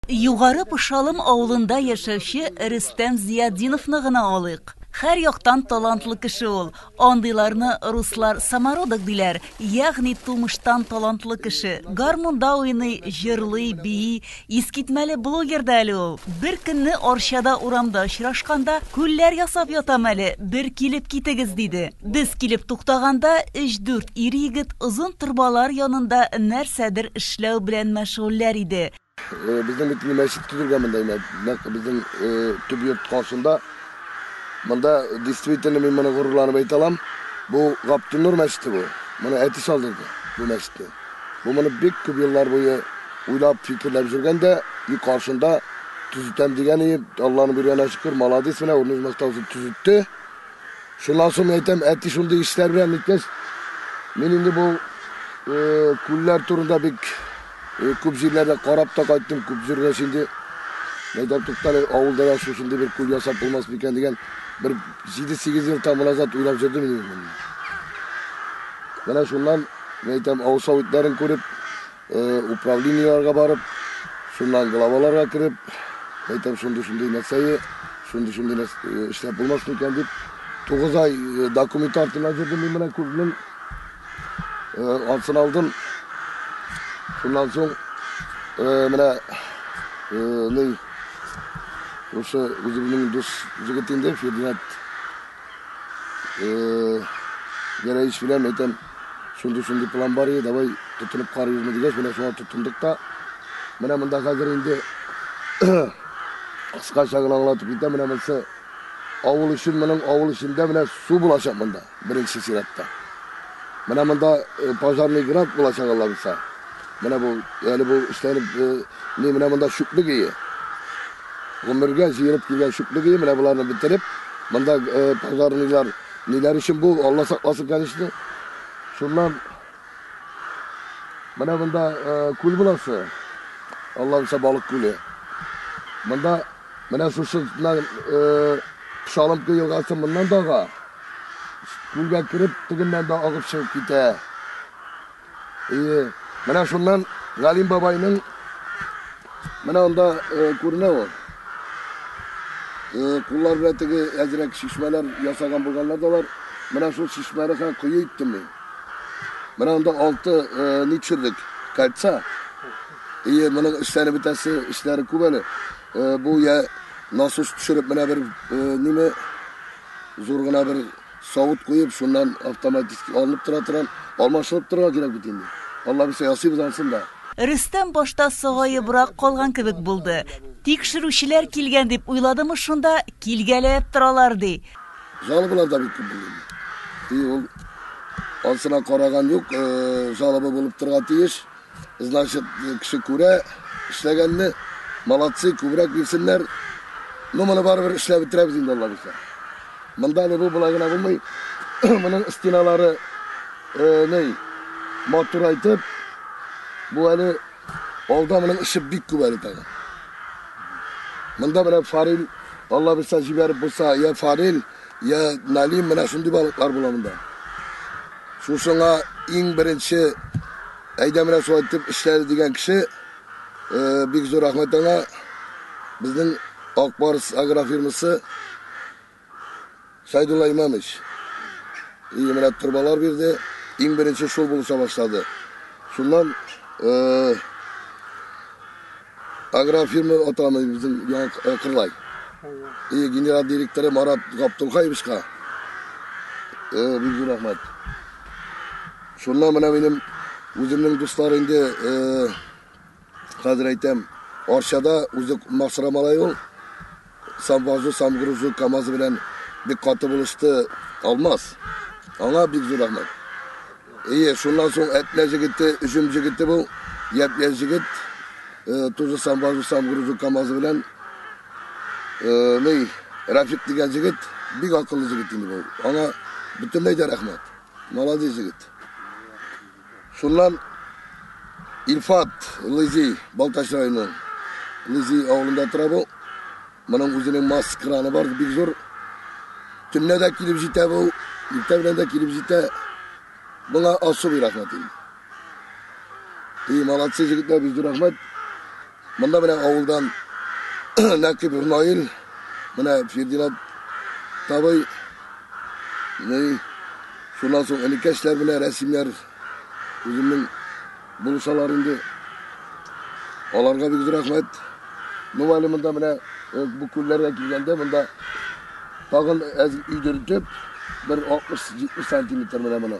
Югары Пышалым авылында яшәүче Рөстәм Зиятдиновны гына алыйк. Хәр яктан талантлы кеше ул. Андыйларны руслар самородок диләр, ягъни тумыштан талантлы кеше. Гармунда уйный, җырлый, бии. Искитмәле блогер да әле ул. Бер көнне Арчада урамда очрашканда, Күлләр ясап ятам әле, бер килеп китегез, диде. Без килеп туктаганда, өч-дүрт ир-егет озын торбалар янында нәрсәдер эшләү белән мәшгульләр иде. Безнең бит мәчет төзелгән монда инде. Нәкъ безнең төп йорт каршында. Монда действительно мин моны горурланып әйтә алам. Бу Гаптунур мәчете бу. Моны әти салдырды бу мәчетне. Бу моны бик күп еллар буе уйлап, фикерләп жүргән дә, и каршында төзетәм дигән и Алланың биргәненә шөкер, молодец менә урныш мостаусын төзетте. Шуннан соң әйтәм, әти шундый эшләр белән иткәч, мин инде бу күлләр турында бик Э, күп җирләрдә карап та кайттым, күп җирдә инде мәйдән туктале, авылда да шушындый бер күл ясап булмас микән дигән бер 7-8 ел тамыр азат уйлап җөрдем инде. Менә шуннан, мен әйтәм, авыл советларын күреп, э, управлениеләргә барып, шуннан главаларга кереп, әйтәм, шундый-шундый нәрсәе, шундый-шундый нәрсә эшләп булмас микән дип, 9 ай документ артына җөрдем мин менә күлнең Алтын алдым. Шуннан соң менә ни Ошо үземнең дус жигит инде Фердинанд Гәрәевич белән әйтәм, шундый-шундый план бар иде, давай тотынып карыйбызмы дигәч, менә шуңа тотындык та. Менә монда хәзер инде кыскача гына аңлатып китәм, менә монысы авыл өчен, моның авыл эчендә менә су булачак монда. Беренче чиратта. Менә монда э, пожарный грант булачак Алла булса. Менә бу әле бу эшләнеп э, ни менә монда чүплек ие. Гомергә җыелып килгән чүплек ие менә боларны бетереп, монда э, пожарныйлар ниләр өчен бу Алла сакласын, конечно. Шуннан менә монда күл буласы. Алла булса балык күле. Монда Менә шушы Шалымка елгасы моннан да ага. Күлгә кереп, тегеннән дә агып чыгып китә. Ие. Менә шуннан Галим бабайның менә анда күренә ул. Куллар белән теге әзрәк шишмәләр ясаган булганнар да бар. Менә шул шишмәне һәм кое иттем мин. Менә анда алты ничерлек кольца. Ие, моның эшләре бетәсе эшләре күп әле. Бу я насос төшереп менә бер ниме зур гына бер савыт куеп, шуннан автоматически алынып тора торган, алмашынып торырга кирәк бит инде. Алла бирсә ясыйбыз ансын да. Рөстәм башта сагаебрак калган кебек булды. Тикшерүчеләр килгән дип уйладымы шунда, килгәләп торалар ди. Жалобалар да бик күп булды. И ул ансына караган юк, жалоба булып торырга тиеш. Значит, кеше күрә, эшләгәнне, молодцы, күбрәк бирсеннәр. Ну, моны барыбер эшләп бетерәбез инде, Алла бирсә. Монда не бу болай гына булмый. Моның стеналары э, ней, матурайтып, бу әле алда моның эше бик күп әле тагын. Монда менә фарил, Алла бирсә җибәреп булса, я фарил, Я, Налим, менә шундый балыклар була монда. Шушыңа иң беренче әйдә менә шулай итеп эшләде дигән кеше э, бик зур рәхмәт аңа. Безнең Акбарс агрофирмасы Сайдулла Имамович. И менә торбалар бирде. Иң беренче шул булыша башлады. Шуннан э, Агрофирма атамый безнең яңа кырлай. И генерал директоры Марат Гаптулхаевичка бик зур рәхмәт. Шуннан менә минем үземнең дуслар инде хәзер әйтәм, Арчада үзе Максара малай ул. Самвазу самгрузу камазы белән бик каты булышты Алмаз. Аңа бик зур рәхмәт. Әйе, шуннан соң Әтнә җегете, Өҗем җегете бу, япь-яшь җегет, э, тузы самвазу самгрузу камазы белән э, ней Рафик дигән җегет, бик акыллы җегет инде бу. Аңа бөтенләй дә рәхмәт. Молодец җегет. Шуннан Илфат Лызи, Балтач районы, Лызи авылында тора бу. Моның үзенең масс краны бар, бик зур. Төнлә дә килеп җитә бу, иртә белән дә килеп җитә. Моңа особый рәхмәт инде. И, молодцы, җегетләр, бик зур рәхмәт. Монда менә авылдан Нәкип Наил, менә Фердинат табый, шуннан соң энекәшләр белән рәсемнәр үземнең булышалар инде. Аларга бик рәхмәт. Ну әле монда менә э, бу күлләргә килгәндә монда тагын әз өйдертеп бер 60-70 сантиметр менә моны.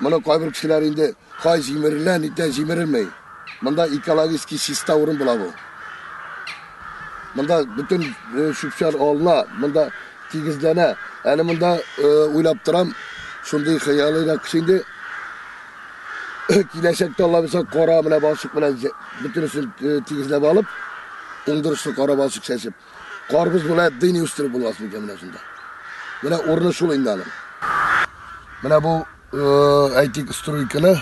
Моны кайбер кешеләр инде кай җимерелә, нидән җимерелми. Монда экологически чиста урын була бу. Монда бөтен чүпчәр алына, монда тигезләнә. Әле монда уйлап торам, шундый хыялый да кеше инде. Киләчәктә Алла бирсә, кара менә балчык белән бөтенесен тигезләп алып, уңдырышлы кара балчык чәчеп. Карбыз белән дыни үстереп булмас микән менә шунда? Менә урыны шул инде аның. Менә бу, э, әйтик, стройканы,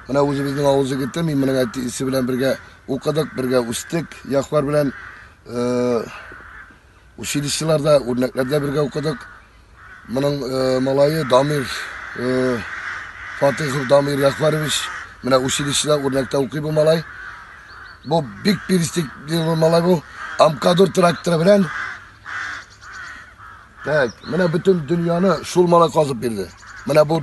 менә үзебезнең авыз егете, мин менә әти исе белән бергә укыдык, бергә үстек, яхлар белән э, училищеларда, үрнәкләрдә бергә укыдык. Моның малае Дамир Фатихов Дамир Яхварович менә училищеда үрнәктә укый бу малай. Бу бик перистик бу малай бу. Амкадур тракторы белән Так, менә бөтен дөньяны шул малай казып бирде. Менә бу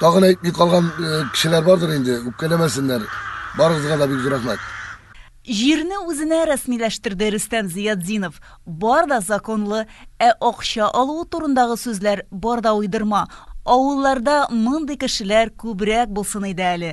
Тагын әйтми калган э, кешеләр бардыр инде, үпкәләмәсеннәр. Барыгызга да бик зур рәхмәт. Җирне үзенә рәсмиләштерде Рөстәм Зиятдинов. Бар да законлы, ә акча алуы турындагы сүзләр бар да уйдырма. Авылларда мондый кешеләр күбрәк булсын иде әле.